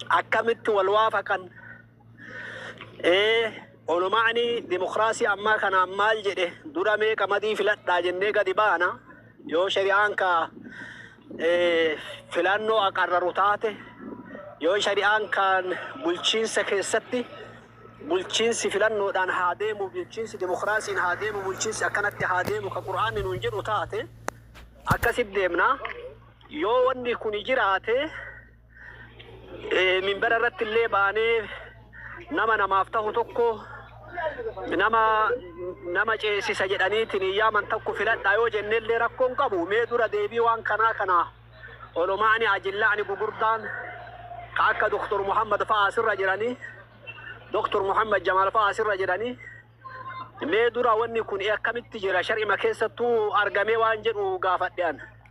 akkamitti wal waafaqan? Ee, oluma'ani dimokiraasii ammaa kanaan maal jedhe? Dura mee qamadii filadhaa jennee gadi baana. Yoo shari'aan ka ee, filannoo aqarraru taate, yoo shari'aan kan bulchiinsa keessatti bulchiinsi filannoodhaan haa deemu, bulchiinsi dimokiraasiin haa deemu, bulchiinsi akkanatti haa deemu ka Qur'aanni nuun jedhu taate akkasitti deemna. Yoo wanni kuni jiraate minbara irratti illee baanee nama namaaf tahu tokko nama nama ceesisa jedhaniitiin yaaman tokko filadhaa yoo jenne illee rakkoon qabu mee dura deebii waan kanaa kana olomaani ajillaani gugurdaan ka akka doktor Muhammad fa'aa asirra jiranii doktor Muhammad Jamaal fa'aa asirra jiranii mee dura wanni kun akkamitti jira shar'ima keessattuu argamee waan jedhu gaafadhean.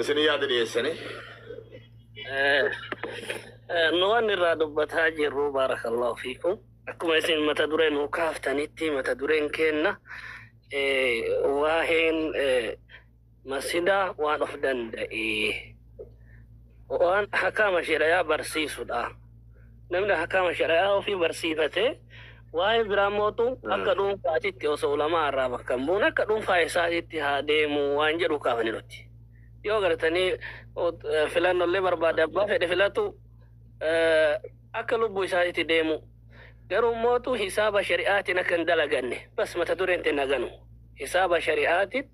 Isin yaada dhiyeessanii. Nu waan irraa dubbataa jirru baarakallahu fiikum. Akkuma isin mata duree nu kaaftanitti mata dureen keenna waa'een masjidaa waan of danda'e. waan hakaama shari'aa barsiisudha. Namni hakaama shari'aa ofii barsiifatee waa'ee biraa mootu akka dhuunfaatitti osoo ulamaa irraa bakka hin buune akka dhuunfaa isaatitti haa deemu waan jedhu kaafani nuti. Yoo gartanii filannollee barbaade abbaa fedhe filatu akka lubbuu isaatitti deemu. Garuu mootu hisaaba shari'aatiin akka hin dalaganne bas mata dureen itti naganu. Hisaaba shari'aatiin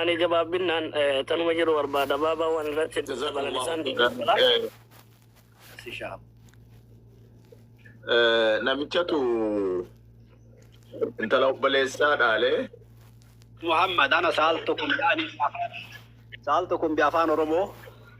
Ani gabaabbinaan tanuma jedhu barbaada. Baabaa waan irratti hedduu dabalan isaan Jazakallahu Sishaam. Eh, namichatu intala obboleessaa dhaalee Muhammad ana saaltu kun yaani saaltu kun bi afaan Oromoo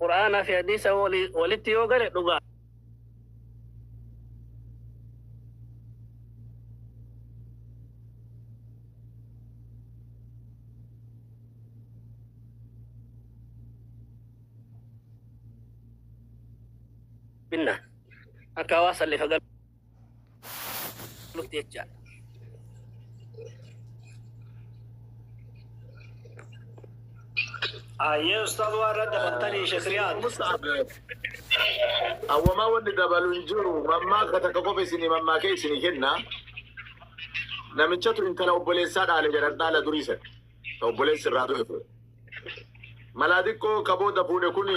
Qur'aanaa fi hadiisa walitti yoo gale dhugaa. Binna akka hawaasa illee fagal. dhufte jechaadha. Ayyee ustaaz waan irra dabaltanii shekriyaat. Awwamaa wanni dabalu hin jiru. Mammaaksa takka qofa isinii mammaakee isinii kenna. Namichatu intala obboleessaa dhaale jedhan dhaala durii sana. Obboleessi irraa du'e ture. Malaa xiqqoo ka booda fuudhe kun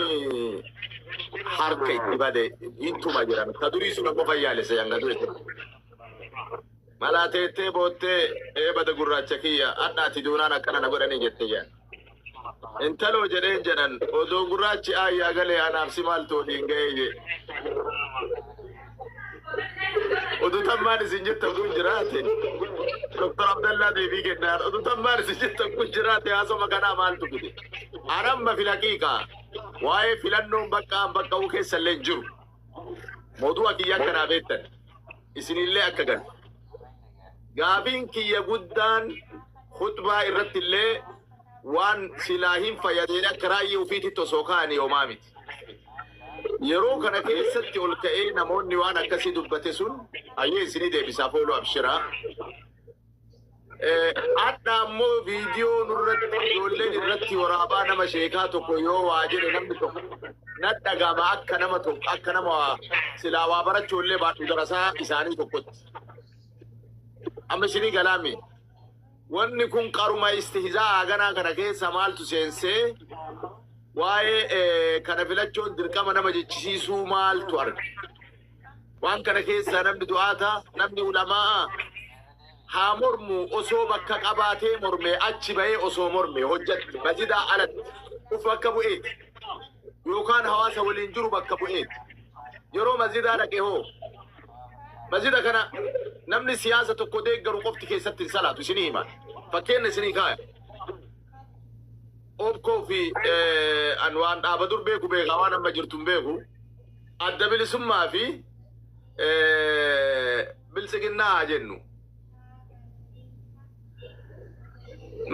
harka itti bade ittuma jiran. Ka durii sun ammoo fayyaalessa hanga du'e. Malaa teettee boottee ee bada gurraacha kiyya hadhaati duunaan akkana na godhanii jette jedhan. Intaloo jedheen jedhan odoo gurraachi aayyaa galee anaaf si maaltu waliin ga'ee jee. Oduu tan maal isin jettan kun jiraate. Doktor Abdallaa deebii kennaan. Oduu tan maal isin jettan kun jiraate haasoma kanaa maaltu fide. An amma filaqiiqa. Waa'ee filannoon bakka an bakka bu'u keessa illee hin jiru. Mootuu akiyya akka naa beektan. Isinillee akka gan. Gaafiin kiyya guddaan khutbaa irratti illee waan silaa hin fayyadeen akka raayyi ofiitti osoo kaa'anii homaa miti. Yeroo kana keessatti ol ka'ee namoonni waan akkasii dubbate sun hayyee isinii deebisaaf oolu abshiraa. Hadha ammoo viidiyoo nurratti ijoolleen irratti waraabaa nama sheekaa tokko yoo waa jedhe namni tokko nadhagama akka nama tokko akka nama silaa waa barachuu illee baadhu darasaa isaanii tokkotti. Amma isinii galaamii. Wanni kun qaruma istihzaa haganaa kana keessa maaltu seensee waa'ee kana filachoon dirqama nama jechisiisuu maaltu arga? Waan kana keessaa namni du'aata, namni ulamaa'a haa mormu osoo bakka qabaatee mormee achi bahee osoo mormee hojjatti masjidaa alatti uf bakka bu'eeti yookaan hawaasa waliin jiru bakka bu'eeti. Yeroo masjidaa dhaqe hoo? Masjida kana namni siyaasa tokko deeggaru qofti keessatti hin salaatu isinii hima. Fakkeenya isinii kaaya. Obkoo fi eh, an waan dhaaba dur beeku beekaa waan amma jirtu hin beeku. Adda bilisummaa fi eh, biltsiginnaa haa jennu.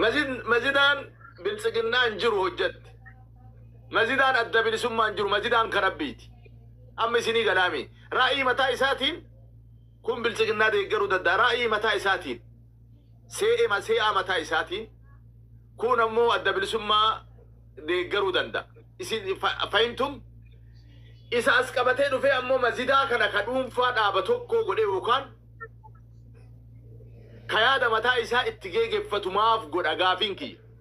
Masjid- Masjidaan biltsiginnaa hin jiru hojjatti. Masjidaan adda bilisummaan jiru masjidaan ka Rabbiiti. Amma isinii galaamii. Ra'ii mataa isaatiin kun biltsiginnaa deeggaruu dadda'a. Ra'ii mataa isaatiin. See'ema see'aa mataa isaatiin kuun ammoo adda bilisummaa deeggaruu danda'a. Isin fa- fahimtum? Isa as qabatee dhufee ammoo masjidaa kana ka dhuunfaa dhaaba tokkoo godhee yookaan ka yaada mataa isaa itti geegeffatu maaf godha gaafiin kiyya.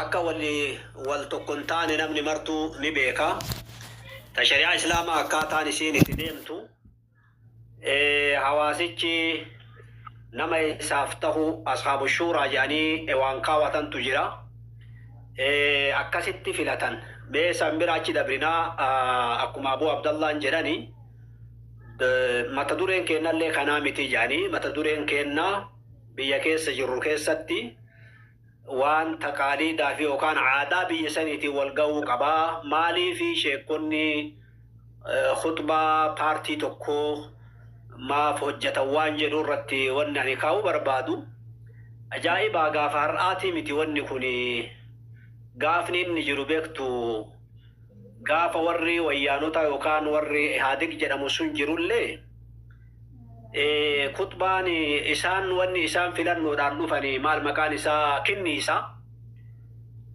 Akka wanni wal tokko hin taane namni martuu ni beeka. Ta shari'aa Islaamaa akkaataan isiin itti deemtu hawaasichi nama isaaf tahu ashaabu shuuraa jedhanii waan kaawatantu jira. Akkasitti filatan. Mee san bira achi dabrinaa akkuma Abuu Abdallaan jedhani mata dureen keennallee kanaa miti jedhanii mata dureen keennaa biyya keessa jirru keessatti waan taqaaliidaa fi yookaan aadaa biyya saniitiin wal gahuu qaba. Maaliif sheekkonni khutbaa paartii tokkoo maaf hojjatan waan jedhu irratti wanni ani kaa'uu barbaadu ajaa'ibaa gaafa har'aatii miti wanni kuni gaafni inni jiru beektu gaafa warri wayyaanotaa yookaan warri ihaadig jedhamu sun jirullee Khuxbaan isaan wanni isaan filannoodhaan dhufanii maal maqaan isaa kinniisa.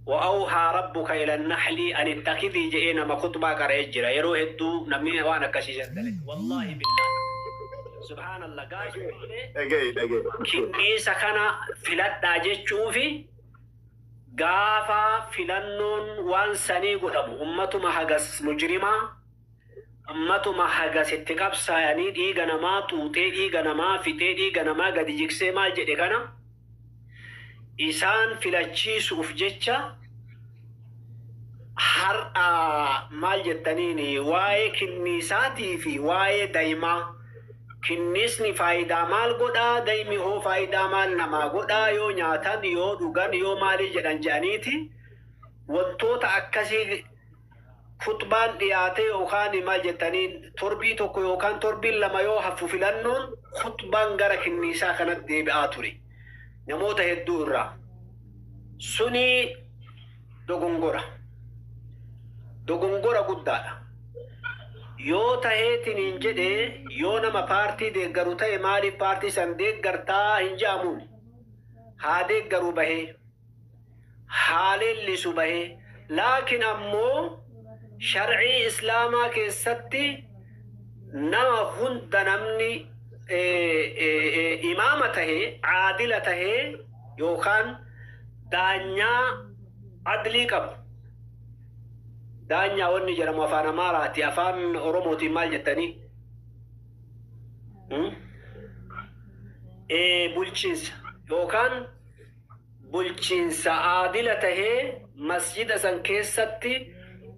Wa'awhaa rabbuka ilan nahlii an ittakidhii je'ee nama khuxbaa qara'ee jira yeroo hedduu namni waan akkasii san dalage wallaahi billaahi subhaanallah gaafa illee Dhaga'i dhaga'i. kinniisa kana filadhaa jechuufi gaafa filannoon waan sanii godhamu ummatuma hagas mujrimaa Matuma hagas itti qabsaayanii dhiiga namaa xuuxee dhiiga namaa fixee dhiiga namaa gadi jigsee maal jedhe kana isaan filachiisuuf jecha har'a maal jettaniin waa'ee kinniisaatii fi waa'ee da'imaa kinniisni faayidaa maal godhaa da'imi hoo faayidaa maal namaa godhaa yoo nyaatan yoo dhugan yoo maalii jedhan jedhaniiti wantoota akkasii khuxbaan dhiyaatee yookaan maal jettaniin torbii tokko yookaan torbiin lama yoo haffu filannoon khuxbaan gara kinniisaa kanatti deebi'aa ture namoota hedduu irraa suni dogongora dogongora guddaadha yoo taheetiniin jedhe yoo nama paartii deeggaru ta'e maaliif paartii san deeggartaa hin jedhamuun haa deeggaru bahee haa leellisu bahe. Laakiin ammoo shar'ii islaamaa keessatti nama hunda namni imaama tahe, aadila tahe yookaan daanyaa adlii qabu. Daanyaa wanni jedhamu afaan Amaaraati, afaan Oromootiin maal jettanii? Bulchiinsa yookaan bulchiinsa aadila tahee masjida san keessatti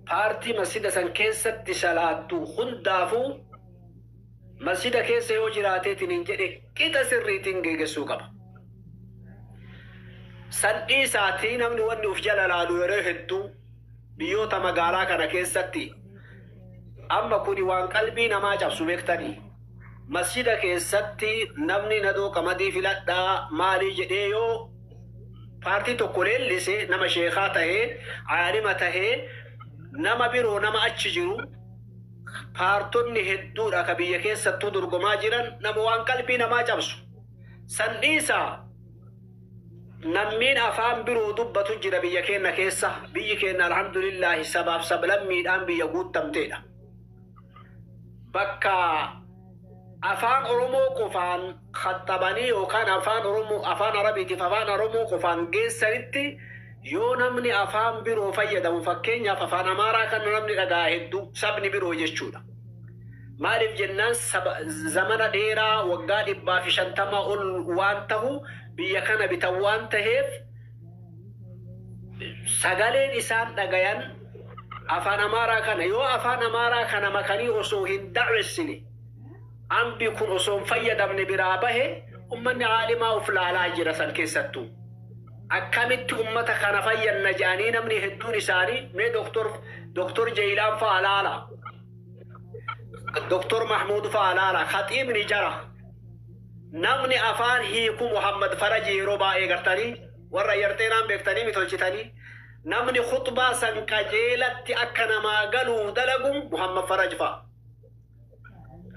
paartii masjida san keessatti salaattu hundaafuu masjida keessa yoo jiraateetiniin jedhe qixa sirriitiin geegessuu qaba. San dhiisaatii namni wanni uf jala laalu yeroo hedduu biyyoota magaalaa kana keessatti amma kuni waan qalbii namaa cabsu beektanii. Masjida keessatti namni nadoo qamadii filadhaa maalii jedhee yoo paartii tokko leellise nama sheekaa tahee aalima tahee nama biroo nama achi jiru paartonni hedduudha ka biyya keessattuu dorgomaa jiran nama waan qalbii namaa cabsu san dhiisaa nammiin afaan biroo dubbatu jira biyya keenna keessa biyyi keenna alhamdulillaahi sabaaf sablammiidhaan biyya guuttamteedha. bakka afaan Oromoo qofaan khaxxabanii yookaan afaan Oromoo afaan Arabiitiif afaan Oromoo qofaan geessanitti yoo namni afaan biroo fayyadamu fakkeenyaaf afaan Amaaraa kana namni dhaga'a hedduu sabni biroo jechuudha. Maaliif jennaan saba zamana dheeraa waggaa dhibbaa fi shantamaa ol waan tahu biyya kana bitan waan taheef sagaleen isaan dhagayan afaan amaaraa kana yoo afaan amaaraa kana makanii osoo hin da'wessine ambi kun osoo hin fayyadamne biraa bahe ummanni aalimaa of laalaa jira san keessattuu akkamitti ummata kana fayyanna jedhanii namni hedduun isaanii mee doktor doktor Jeeyilaan fa'a laala doktor Mahmuud fa'a laala khaxiibni jara Namni afaan hiiku Muhammad Faraji yeroo baayee gartani warra yarxeenaan beektanii mi tolchitanii namni khuxbaa san qajeelatti akka namaa galuuf dalagu Muhammad Faraj fa'a.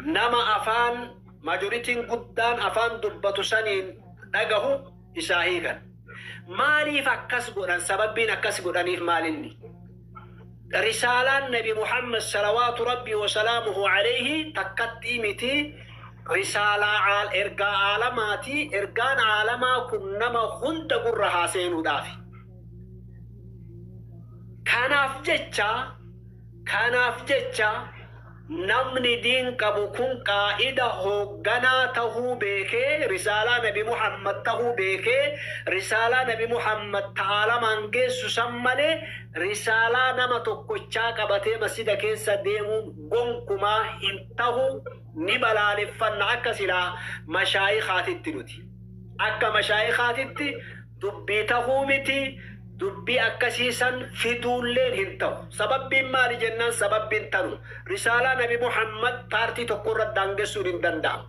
Nama afaan majoritiin guddaan afaan dubbatu saniin dhagahu isaa hiikan. Maaliif akkas godhan sababbiin akkas godhaniif maalinni? Risaalaan Nabi Muhammad salawaatu Rabbii wa salaamuhu aleyhi takkattii miti, risaalaa aal ergaa aalamaati, ergaan aalamaa kun nama hunda gurra haa seenuudhaafi. Kanaaf jecha, kanaaf jecha, Namni diin qabu kun qaa'ida hoogganaa tahuu beekee risaalaa nabi Muhammad tahuu beekee risaalaa nabi Muhammad ta aalamaan geessu san malee risaalaa nama tokkochaa qabatee masjida keessa deemuun gonkumaa hin tahu ni balaaleffanna akka silaa mashaayikhaatitti nuti akka mashaayikhaatitti dubbii tahuu miti, dubbii akkasii san fiduulleen hin tahu. Sababbiin maali jennaan sababbiin tanu, risaalaa nabi Muhammad paartii tokko irratti daangessuun hin danda'amu.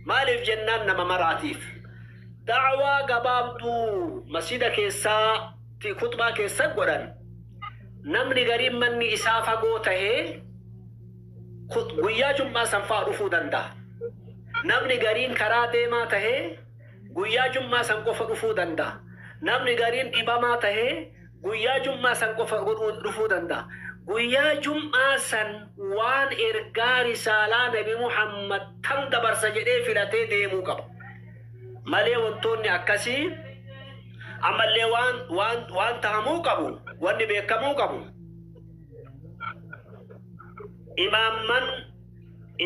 Maaliif jennaan nama maraatiif. Da'waa gabaabduu masjiida keessaatti khutbaa keessa godhan, namni gariin manni isaa fagoo tahee guyyaa jum'aa san fa'a dhufuu danda'a. Namni gariin karaa deemaa tahee, guyyaa jum'aa san qofa dhufuu danda'a. Namni gariin dhibamaa tahee guyyaa jum'aa san qofa godhuu dhufuu danda'a. Guyyaa jum'aa san waan ergaa risaalaa nabi Muhammad tan dabarsa jedhee filatee deemuu qaba. Malee wantoonni akkasii ammallee waan waan waan tahamuu qabu wanni beekamuu qabu imaamman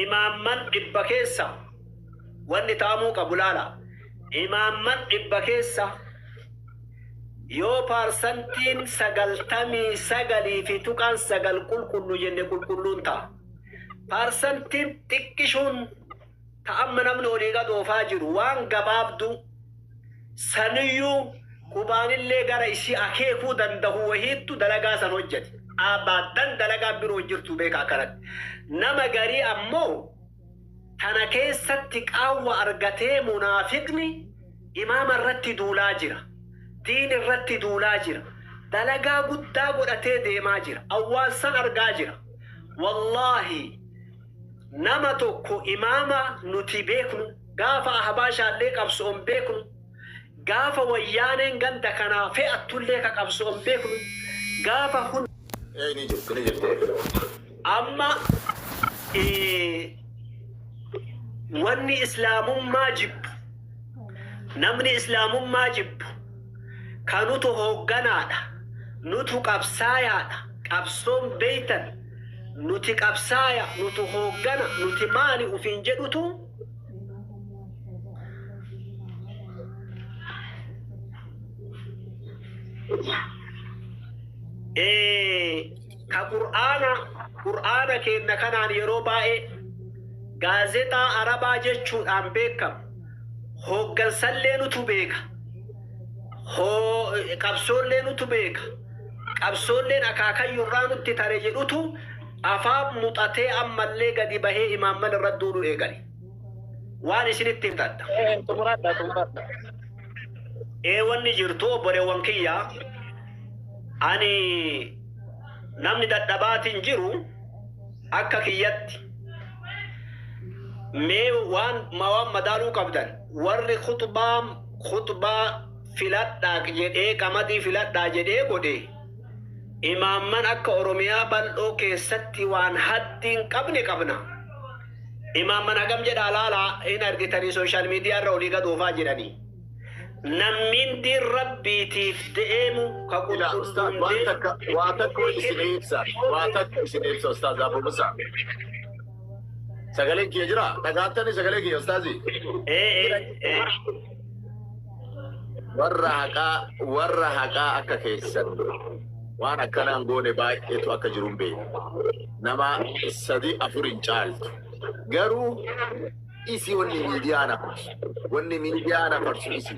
Imaamman dhibba keessa wanni ta'amuu qabu laala. Imaamman dhibba keessa yoo parsantiin 99.9 qulqullu jenne qulqulluun ta'a. Parsantiin xiqqishuun ta amma namni olii gad oofaa jiru waan gabaabduu saniyyuu qubaanillee gara isii akeekuu dandahu wahiittu dalagaa san hojjate. Abadan dalagaan biroo hin jirtu beeka akkanatti. Nama garii ammoo tana keessatti qaawwa argatee munaafiqni imaama irratti duulaa jira. Diin irratti duulaa jira. Dalagaa guddaa godhatee deemaa jira. Awwaan san argaa jira. Wallaahi Nama tokko imaama nuti beeknu, gaafa Ahbaashaallee qabso'on beeknu, gaafa Wayyaaneen ganda kanaa fe'attullee ka qabso'on beeknu, gaafa hunda. Ee ni jirti ni jirti eegalu. Amma wanni Islaamummaa jibbu, namni Islaamummaa jibbu ka nutu hoogganaadha, nutu qabsaayaadha, qabsoon beektan, nuti qabsaaya, nutu hooggana, nuti maali ufiin jedhutu Eh, ka qur'aana qur'aana keenna kanaan yeroo baay'ee gaazexaa arabaa jechuudhaan beekamu hooggansallee nutu beeka Hoo qabsoollee nutu beeka, qabsoolleen akaakayyuu irraa nutti tare jedhutu afaan muxatee ammallee gadi bahee imaamman irra duulu eegale. Waan isinitti himta adda. Xumuradha, xumuradha. Ee wanni jirtu obboleewwan kiyya ani namni dadhabaatiin jiru akka kiyyatti mee waan waan madaaluu qabdan Warri khuxbaa khuxbaa filadhaaq jedhee qamadii filadhaa jedhee godhe imaamman akka Oromiyaa bal'oo keessatti waan haddi hin qabne qabna. Imaamman hagam jedhaa laalaa hin argitanii sooshaal miidiyaa irra olii gad oofaa jiranii. Nammiin diin rabbiitiif deemu ka Ila ustaaz qulqulluun waan deemu takka waa takka isin ibsa waa takka isin ibsa ustaaz Abu Musa. Sagaleen kiyya jira. Dhagaattanii sagalee kiyya ustaazi. Ee ee ee. Warra haqaa warra haqaa akka keessan waan akkanaan goone baay'eetu akka jiru hin beeku. Nama sadii afur hin caaltu. Garuu isi wanni miidiyaa na farsu. Wanni miidiyaa na farsu isi.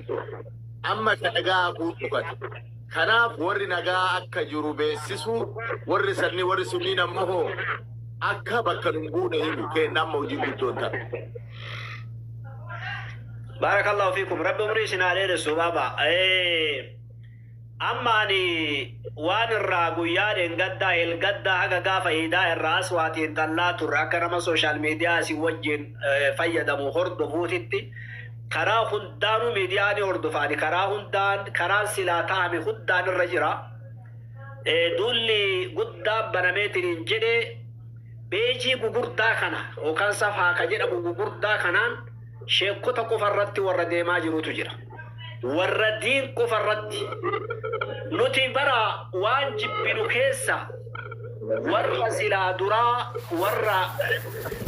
Amma ka dhagaa hafuun dhukate. Kanaaf worri nagaa akka jiru beessisu, worri sanni worri sunniin ammoo hoo akka bakka nun buune himu. Keenna amma hojiin guddoon tana. Baarakallahu fiikum rabbi umrii isin haa dheeressu baaba. Eh, Amma ani waan irraa guyyaa dheengaddaa elgaddaa haga gaafa iidaa irraa as waa xiinxallaa turre akka nama sooshaal miidiyaa isin wajjin eh, fayyadamu hordofuutitti Karaa hundaanu midiyaa ni hordofaani karaa hundaan karaan silaa tahame hundaan irra jira. Duulli guddaan banameetiniin jedhe beejii gugurdaa kana yookaan safaa ka jedhamu gugurdaa kanaan sheekkota qofa irratti warra deemaa jirutu jira. Warra diin qofa irratti nuti bara waan jibbinu keessa Warra silaa duraa warra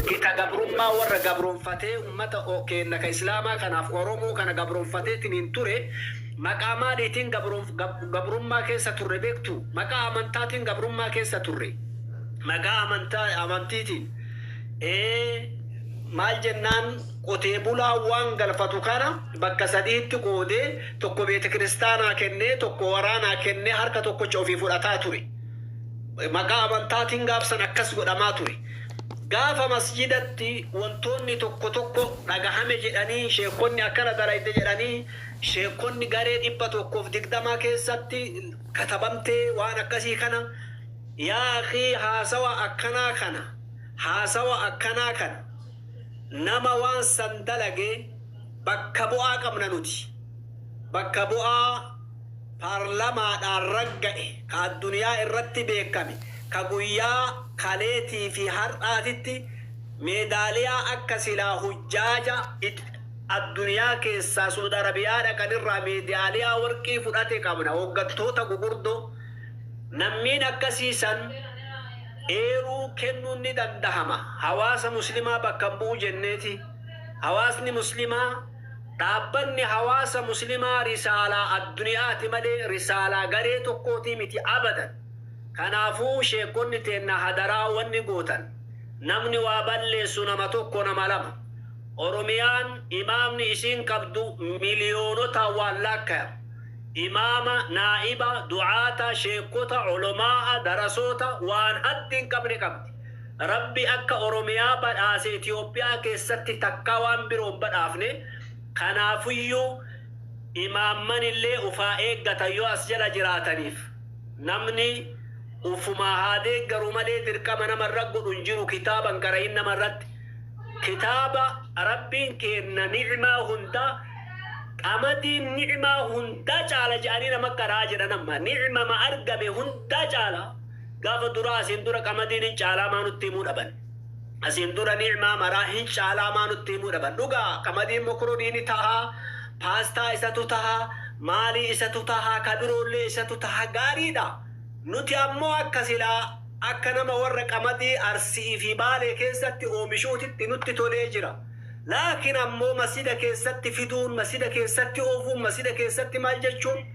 gita gabrummaa warra gabroomfatee ummata keenna ka islaamaa kanaaf oromoo kana gabroomfateetiniin ture maqaa maaliitiin gabrummaa keessa turre beektuu? Maqaa amantaatiin gabrummaa keessa turre. Maqaa amantiitiin ee maal jennaan qotee bulaan waan galfatu kana bakka sadihitti qoodee tokko beetekiristaanaa kennee tokko waraanaa kennee harka tokkocha ofii fudhataa ture. Maqaa amantaatiin gaafsan akkas godhamaa ture. Gaafa masjidatti wantoonni tokko tokko dhagahame jedhanii sheekkonni akkana dalayde jedhanii sheekkonni garee dhibba tokkoof digdamaa keessatti katabamtee waan akkasii kana yaa akii haasawa akkanaa kana haasawa akkanaa kana nama waan san dalage Bakka bu'aa qabna nuti. Bakka bu'aa paarlamaadhaan ragga'e, ka addunyaa irratti beekkame, ka guyyaa kaleetii fi har'aatitti meedaaliyaa akka silaa hujjaaja addunyaa keessaa Suud Arabiyaa dhaqan irraa meedaaliyaa warqii fudhate qabna, hooggantoota gugurdoo. Nammiin akkasii san eeruu kennuun ni dandahama. Hawaasa muslimaa bakka hin bu'u jenneeti. Hawaasni Muslimaa dhaabbanni hawaasa Muslimaa risaalaa adduniyaati malee risaalaa garee tokkootii miti abadan. Kanaafuu sheekkonni teenna hadaraa wanni gootan namni waa balleessu nama tokko nama lama. Oromiyaan imaamni isiin qabdu miliyoonotaan waan laakkayamu. Imaama, naa'iba, du'aata, sheekkota, olomaa'a, darasoota waan haddi hin qabne qabdi. Rabbi akka Oromiyaa badhaase Itoophiyaa keessatti takkaa waan biroo hin badhaafne, kanaafuyyuu imaammanillee uf haa eeggatan yoo as jala jiraataniif. Namni ufumaa haa deeggaru malee dirqama nama irra godhu hin jiru kitaaba hin qara'iin nama irratti. Kitaaba Rabbiin keenna ni'maa hundaa qamadiin ni'maa hundaa caala jedhanii nama qara'aa jedhan amma. Ni'mama argame hundaa caala. Gafa duraa asiin dura qamadiin hin caalaa maa nutti himuu dhaban? Asiin dura ni'maa maraa hin caalaa maa nutti himuu dhaban? Dhugaa qamadiin mokoroonii ni tahaa, paastaa isatu tahaa, maalii isatu tahaa, ka biroollee isatu tahaa gaariidha. Nuti ammoo akka silaa akka nama warra qamadii Arsi'ii fi Baalee keessatti oomishuutitti nutti tolee jira. Laakiin ammoo masjida keessatti fiduun, masjida keessatti oofuun, masjida keessatti maal jechuun?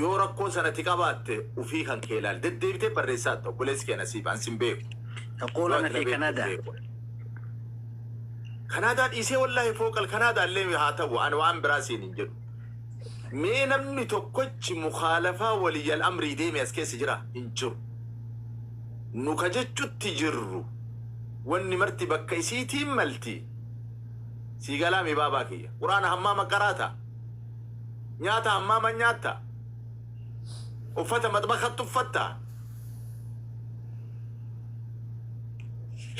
Yoo rakkoon sana ati qabaatte ufii kan kee ilaali. Deddeebitee barreessaa ati obboleessi kee nasiif an sin beeku. Tokkoo lama ta'e Kanaadaa. Kanaadaa dhiisee wallaahi fooqal Kanaadaa illee haa ta'u an waan biraa siin hin jedhu. Mee namni tokkochi mukaalafaa waliyyal amrii deeme as keessa jira hin jiru. Nu ka jechutti jirru wanni marti bakka isiitiin malti. sii galaamii baabaa kiyya quraana hammaama qaraata nyaata hammaama nyaatta uffata maxbakatti uffatta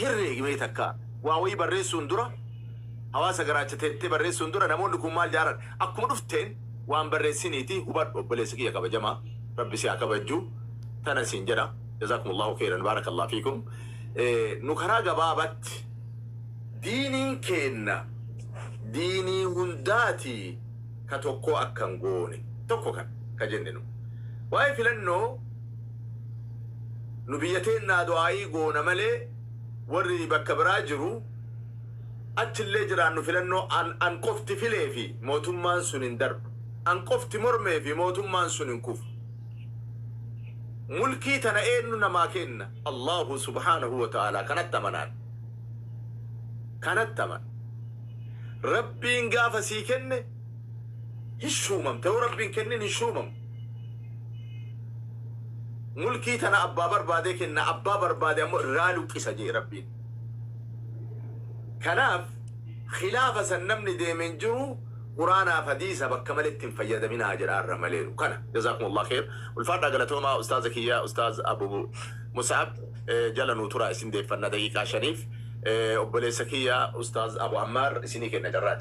hirreegi mee takka waa wayii barreessuun dura hawaasa garaacha teettee barreessuun dura namoonni kun maal jaaran akkuma dhufteen waan barreessiniiti hubadhu obboleessa kiyya kabajamaa rabbi si haa kabajju tana siin jedha jazakumullahu khairan baarakallahu fiikum Eh, nu karaa gabaabatti Diiniin keenna diinii hundaati ka tokkoo akkan goone tokko kan ka jenne nu. Waa'ee filannoo nu biyya teennaa du'aa'ii goona malee warri bakka biraa jiru achillee jiraannu filannoo an an qofti filee fi mootummaan sun hin darbu. An qofti mormee fi mootummaan sun hin kufu. Mulkii tana eennu namaa keenna? Allaahu subhaanahu wa ta'aalaa kanatti amanaan. kanatti amana. Rabbiin gaafa sii kenne hin shuumamta, yoo Rabbiin kennin hin shuumamu. Mulkii tana abbaa barbaadee kenna, abbaa barbaade ammoo irraa luqqisa jee Rabbiin. Kanaaf khilaafa san namni deeme hin jiru, Quraanaaf hadiisa bakka maletti hin fayyadaminaa jedhaa irra maleeru. Kana. Jazaakumullah kheer. Ulfaadhaa galatoomaa ustaaza kiyya ustaaz Abu Mus'ab. eh, jala nuu turaa isin deeffanna daqiiqaa shaniif Eh, obboleessa kiyya ustaaz abu ammaar isinii kenna carraa